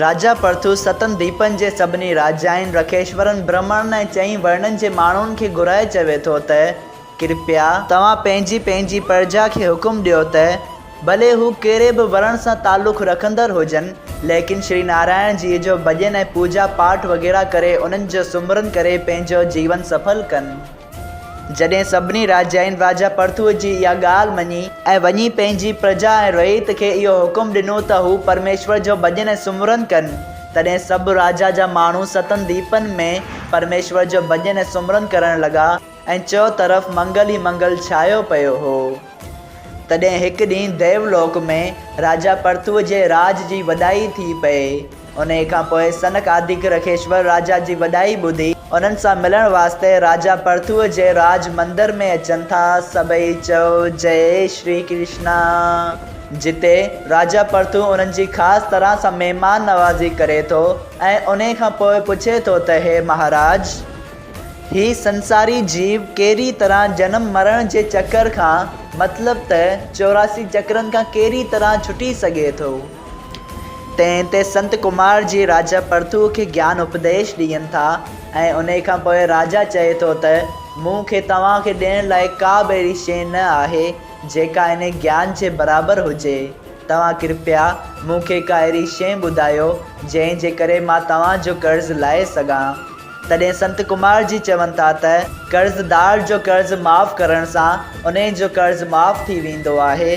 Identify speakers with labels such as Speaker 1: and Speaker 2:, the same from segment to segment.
Speaker 1: راجا پرٿو ستن ديپن جي سڀني راجائن، رکيشورن، برهمڻن ۽ چئين ورنن جي ماڻهن کي گهرائي چوي ٿو ته، ڪرپيا! توهان پنهنجي پنهنجي پرجا کي حڪم ڏيو ته، ڀلي هو ڪهڙي به ورڻ سان تعلق رکندڙ هجن، ليڪن شري نارائڻ جيء جو ڀڄن ۽ پوڄا پاٺ وغيره ڪري انهن جو سمرن ڪري پنهنجو جيون سڦل ڪن. جڏهن سڀني راجائين راجا پرٿوء جي اها ڳالهه مڃي. ۽ وڃي پنهنجي پرجا ۽ رعيت کي اهو حڪم ڏنو ته هو پرميشور جو ڀڄن ۽ سمرن ڪن. تڏهن سڀ راجا جا ماڻهو ستن ديپن ۾ پرميشور جو ڀڄن ۽ سمرن ڪرڻ لڳا ۽ چئو طرف منگل ئي منگل ڇايو پيو هو. تڏهن هڪ ڏينهن ديو لوڪ ۾ راجا پرٿوء جي راڄ جي وڏائي ٿي پئي. انهيء کان پوء سنڪ آڌيڪ رکيشور راجا جي وڏائي ٻڌي، انهن سان ملڻ واسطي راجا پرٿوء جي راج مندر ۾ اچن ٿا. سڀئي چئو جئي شري ڪرشنا. جتي راجا پرٿو انهن جي خاص طرح سان مهمان نوازي ڪري ٿو ۽ انهيء کان پوء پڇي ٿو ته هي مهاراج! هي سنساري جيو ڪهڙي طرح جنم مرڻ جي چڪر کان، مطلب ته چوراسي چڪرن کان ڪهڙي طرح ڇٽي سگهي ٿو؟ تنهن تي سنت ڪمار جي راجا پرٿوء کي گيان اپديش ڏين ٿا ۽ انهيء کان پوء راجا چئي ٿو ته، مون کي توهان کي ڏيڻ لاء ڪا به اهڙي شيء نه آهي، جيڪا انهيء گيان جي برابر هجي. توهان ڪرپيا مون کي ڪا اهڙي شيء ٻڌايو، جنهن جي ڪري مان توهان جو قرض لاهي سگهان. تڏهن سنت ڪمار جي چون ٿا ته، قرضدار جو قرض معاف ڪرڻ سان انهيء جو قرض معاف ٿي ويندو آهي،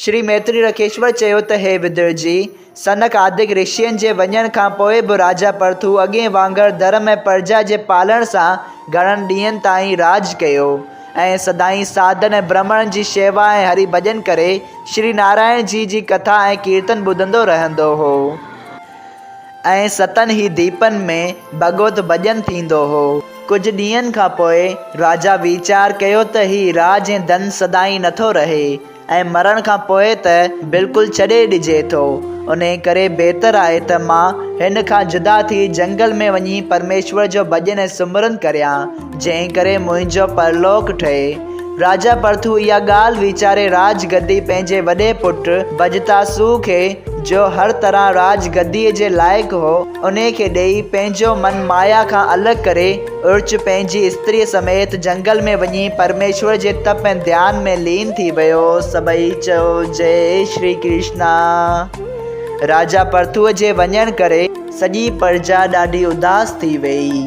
Speaker 1: شري ميتري رڪيشور چيو ته هي بدر جي، سنڪ آدڪ رشين جي وڃڻ کان پوء به راجا پرٿو اڳئين وانگر ڌرم ۽ پرجا جي پالڻ سان گهڻن ڏينهن تائين راڄ ڪيو ۽ سدائين ساڌن ۽ برهمڻن جي شيوا ۽ هري ڀڄن ڪري شري نارائڻ جي جي ڪٿا ۽ ڪيرتن ٻڌندو رهندو هو. ۽ ستن ئي ديپن ۾ ڀڳوت ڀڄن ٿيندو هو. ڪجهه ڏينهن کان پوء راجا ويچار ڪيو ته هي راڄ ۽ ڌن سدائين نٿو رهي ۽ مرڻ کان پوء ته بلڪل ڇڏي ڏجي ٿو. انهيء ڪري بهتر آهي ته مان هن کان جدا ٿي جنگل ۾ وڃي پرميشور جو ڀڄن ۽ سمرن ڪريان. جنهن ڪري منهنجو پرلوڪ ٺهي. راجا پرٿو اها ڳالهه ويچاري راڄ گدي پنهنجي وڏي پٽ بجتاسو کي، جو هر طرح راڄ گديء جي لائق هو، انهي کي ڏيئي، پنهنجو من مايا کان الڳ ڪري، ارچ پنهنجي استريء سميت جنگل ۾ وڃي پرميشور جي تپ ۽ ڌيان ۾ لين ٿي ويو. سڀئي چئو جئي شري ڪرشنا. راجا پرٿوء جي وڃڻ ڪري سڄي پرجا ڏاڍي اداس ٿي ويئي.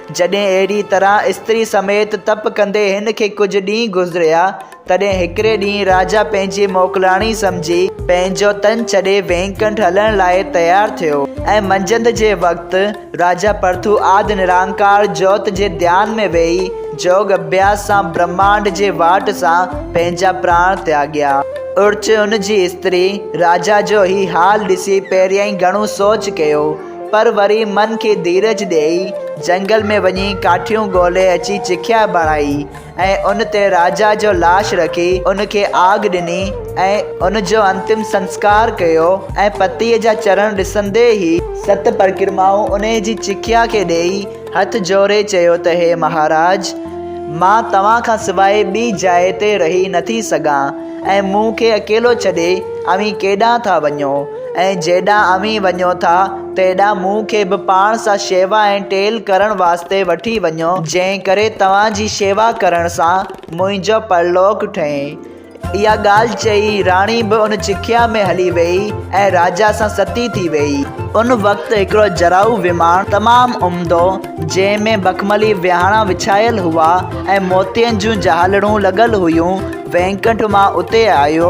Speaker 1: جڏهن اهڙي طرح استري سميت تپ ڪندي هن کي ڪجهه ڏينهن گذريا، تڏهن هڪڙي ڏينهن راجا پنهنجي موڪلاڻي سمجهي، پنهنجو تن ڇڏي وينڪنٺ هلڻ لاء تيار ٿيو ۽ منجهند جي وقت راجا پرٿو آد نرانڪار جوت جي ڌيان ۾ ويهي جوڳ اڀياس سان برهمانڊ جي واٽ سان پنهنجا پراڻ تياڳيا. اڙچ ان جي استري راجا جو هي حال ڏسي پهريائين گهڻو سوچ ڪيو، پر وري من کي ڌيرج ڏيئي جهنگل ۾ وڃي ڪاٺيون ڳولهي اچي چکيا بڻائي ۽ ان تي راجا جو لاش رکي ان کي آگ ڏني ۽ ان جو انتم سنسڪار ڪيو ۽ پتيء جا چرڻ ڏسندي ئي ست پرڪرمائون انهيء جي چکيا کي ڏيئي هٿ جوڙي چيو ته هي مهاراج! مان توهان کان سواء ٻي جاء تي رهي نٿي سگهان ۽ مون کي اڪيلو ڇڏي اوهين ڪيڏانهن ٿا وڃو؟ ۽ جيڏانهن اوهين وڃو ٿا، تيڏانهن مون کي به پاڻ سان شيوا ۽ ٽيل ڪرڻ واسطي وٺي وڃو، جنهن ڪري توهان جي شيوا ڪرڻ سان منهنجو پرلوڪ ٺهي. اها ڳالهه چئي، راڻي به ان چکيا ۾ هلي ويئي ۽ راجا سان ستي ٿي ويئي. ان وقت هڪڙو جراحو وماڻ تمام عمدو، جنهن ۾ مخملي ويهاڻا وڇايل هئا ۽ موتين جون جهالڙون لڳل هيون، وينڪنٺ مان اتي آيو،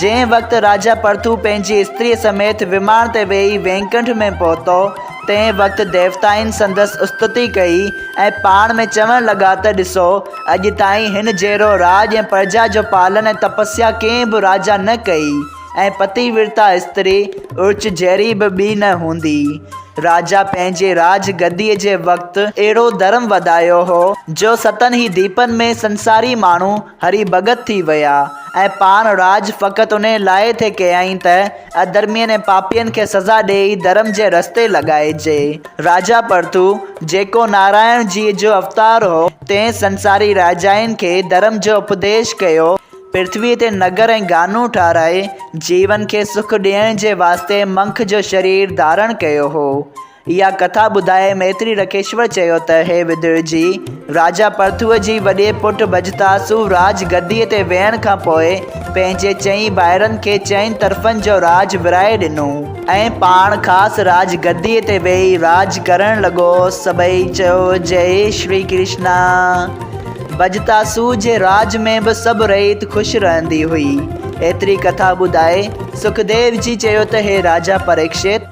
Speaker 1: جنهن وقت راجا پرٿو پنهنجي استريء سميت ومان تي ويهي وينڪنٺ ۾ پهتو، تنهن وقت ديوتائن سندس استتي ڪئي ۽ پاڻ ۾ چوڻ لڳا ته ڏسو، اڄ تائين هن جهڙو راڄ ۽ پرجا جو پالن ۽ تپسيا ڪنهن به راجا نه ڪئي ۽ پتي ورتا استري ارچ جهڙي به ٻي نه هوندي. راجا پنهنجي راڄ گديء جي وقت اهڙو ڌرم وڌايو هو، جو ستن ئي ديپن ۾ سنساري ماڻهو، هري ڀڳت ٿي ويا ۽ پاڻ راڄ فقط انهيء لاء ٿي ڪيائين ته اڌرمين ۽ پاپين کي سزا ڏيئي ڌرم جي رستي لڳائجي. راجا پرٿو، جيڪو نارائڻ جيء جو اوتار هو، تنهن سنساري راجائين کي ڌرم جو اپديش ڪيو. پرٿويء تي نگر ۽ گانون ٺاهرائي، جيون کي سک ڏيڻ جي واسطي منک جو شرير ڌارڻ ڪيو هو. اها ڪٿا ٻڌائي ميتري رڪيشور چيو ته هي ويدر جي، راجا پرٿوء جي وڏي پٽ بجتاسو راڄ گديء تي ويهڻ کان پوء پنهنجي چئين ڀائرن کي چئن طرفن جو راڄ ورهائي ڏنو ۽ پاڻ خاص راڄ گديء تي ويهي راڄ ڪرڻ لڳو. سڀئي چيو جئي شري ڪرشنا. بجتاسو جي راڄ ۾ به سڀ رعيت خوش رهندي هئي. ايتري ڪٿا ٻڌائي سکديو جي چيو ته هي راجا پريڪشت!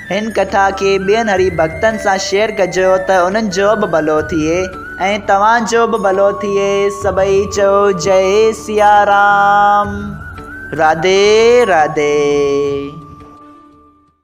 Speaker 1: هن ڪٿا کي ٻين هري ڀڳتن سان شيئر ڪجو ته انهن جو به ڀلو ٿئي ۽ توهان جو به ڀلو ٿئي سڀئي چئو جئي سيارام راڌي راڌي.